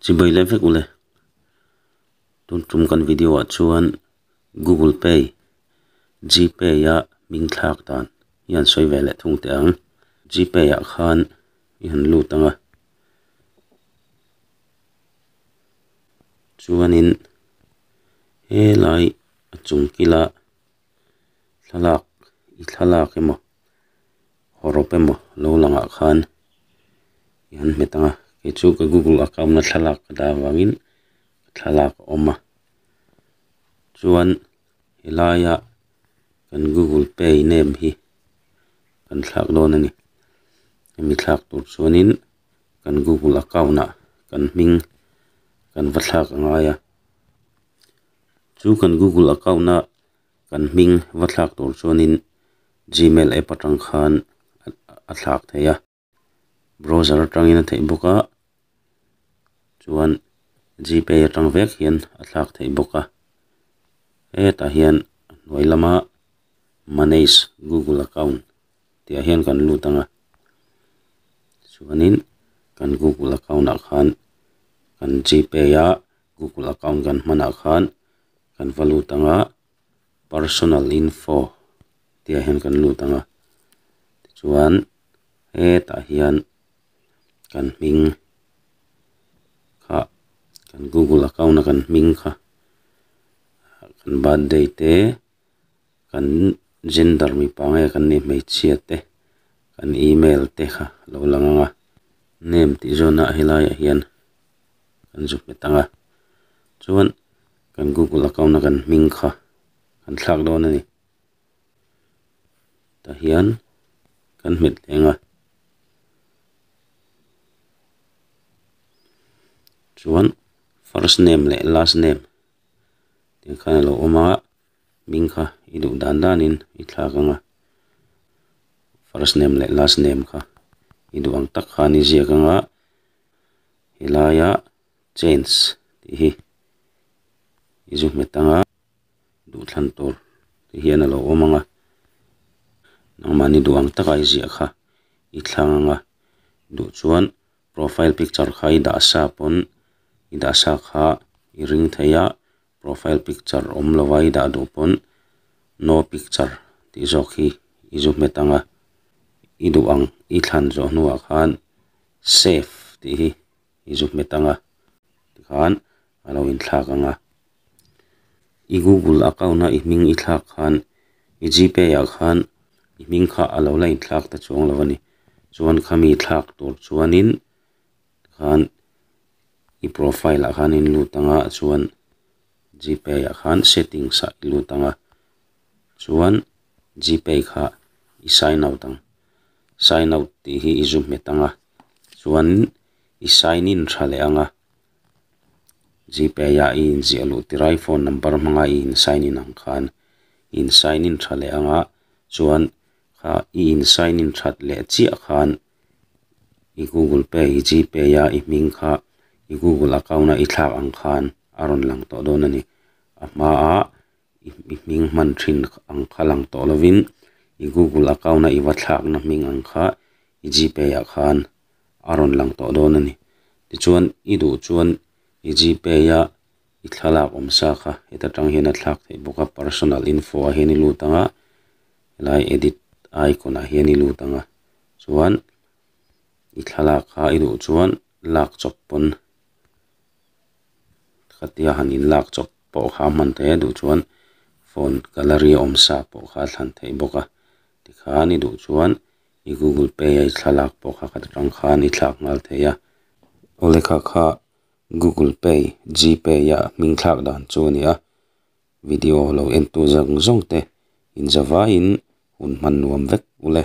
Chibai leh vek ule. Tun tum kan video ah chuan Google Pay, GPay a min thlak dan i han sawi ve leh thung teh ang. GPay ah khan i han lut ang a. Chuanin helai a chung kila thlalak i thlalak emaw. rop emaw lo langah khan i han hmet ang a kei chu ka google account a thlalak a dar vangin thlalak a awm a chuan he laia kan google pay nem hi kan thlak dawn a ni hemi thlak tur chuanin kan google account ah kan hming kan va thlak a ngai a chu kan google account a-- Kan hming va thlak tur chuanin Gmail app atang khan a thlak thei a, browser atangin a theih bawk a, chuan Gpay atang vek hian a thlak thei bawk a. Hetah hian a hnuai lama Manage Google Account tihah hian kan lut ang a, chuanin kan Google account ah khan kan Gpay a Google account kan hmanah khan, kan va lut ang a personal info tih ah hian kan lut ang a tichuan hetah hian kan hming kha kan google account a kan hming kha kan birthday te. kan gender mipa nge kan nih hmeichhia te kan email te kha a lo lang ang a name tih zawn ah helai ah hian kan zuk hmet ang a chuan kan google account a kan hming kha kan thlak dawn a ni tah hian kan hmet teh ang a chuan first name leh last name -- tin khan a lo awm a ming kha i duh dan dan in i thlak ang a first name leh last name kha i duh ang tak khan i ziak ang a he lai a chance tih hi i zu hmet ang a duhthlan tur te hian a lo awm ang a nangmahni duh ang taka i ziah kha i thlang ang a duh chuan. Profile picture kha i dah sa pawn i dah sa kha i ring thei a, profile picture awm lova i dah duh pawn no picture tih zawk hi i zu hmet ang a, i duh ang i thlan zawh hnuah khan save tih hi i zu hmet ang a, tikhan a lo inthlak ang a, i Google account a i hming i thlak khan i GPay ah khan i hming kha a lo la inthlak ta chuang lo a ni. Chuan khami thlak tur chuanin khan i profile ah khan in lut ang a, chuan GPay ah khan settings ah i lut ang a, chuan GPay kha i sign out ang, sign out tih hi i zu hmet ang a, chuan i sign in tha leh ang a, Gpay ah i inziah loh tirh ai phone number hmanga i in sign in ang khan in sign in tha leh ang a chuan ah i in sign in that leh chiah khan i google pay i gpay a i hming kha i google account a i thlak ang khan a rawn lang tawh dawn a ni a hma ah-- i hming hman thin ang kha lang tawh lovin i google account a i va thlakna hming ang kha i g pay ah khan a rawn lang tawh dawn a ni tichuan i duh chuan i g pay a i thlalak awm sa kha heta tang hian a thlak theih bawk a personal info ah hian i lut ang a helai edit icon ah hian i lut ang a chuan i thlalak kha i duh chuan lak chawp pawn khatia han in lak chawp. pawh kha hman thei a duh chuan phone gallery awm sa pawh kha a thlan thei bawk a tikhan i duh chuan i google pay a i thlalak pawh kha ka ti tang khan i thlak nghal thei a aw le kha kha google pay g pay a hming thlak dan chu a ni a video lo en tu zawng zawng te inzawvaiin hun hman nuam vek u le.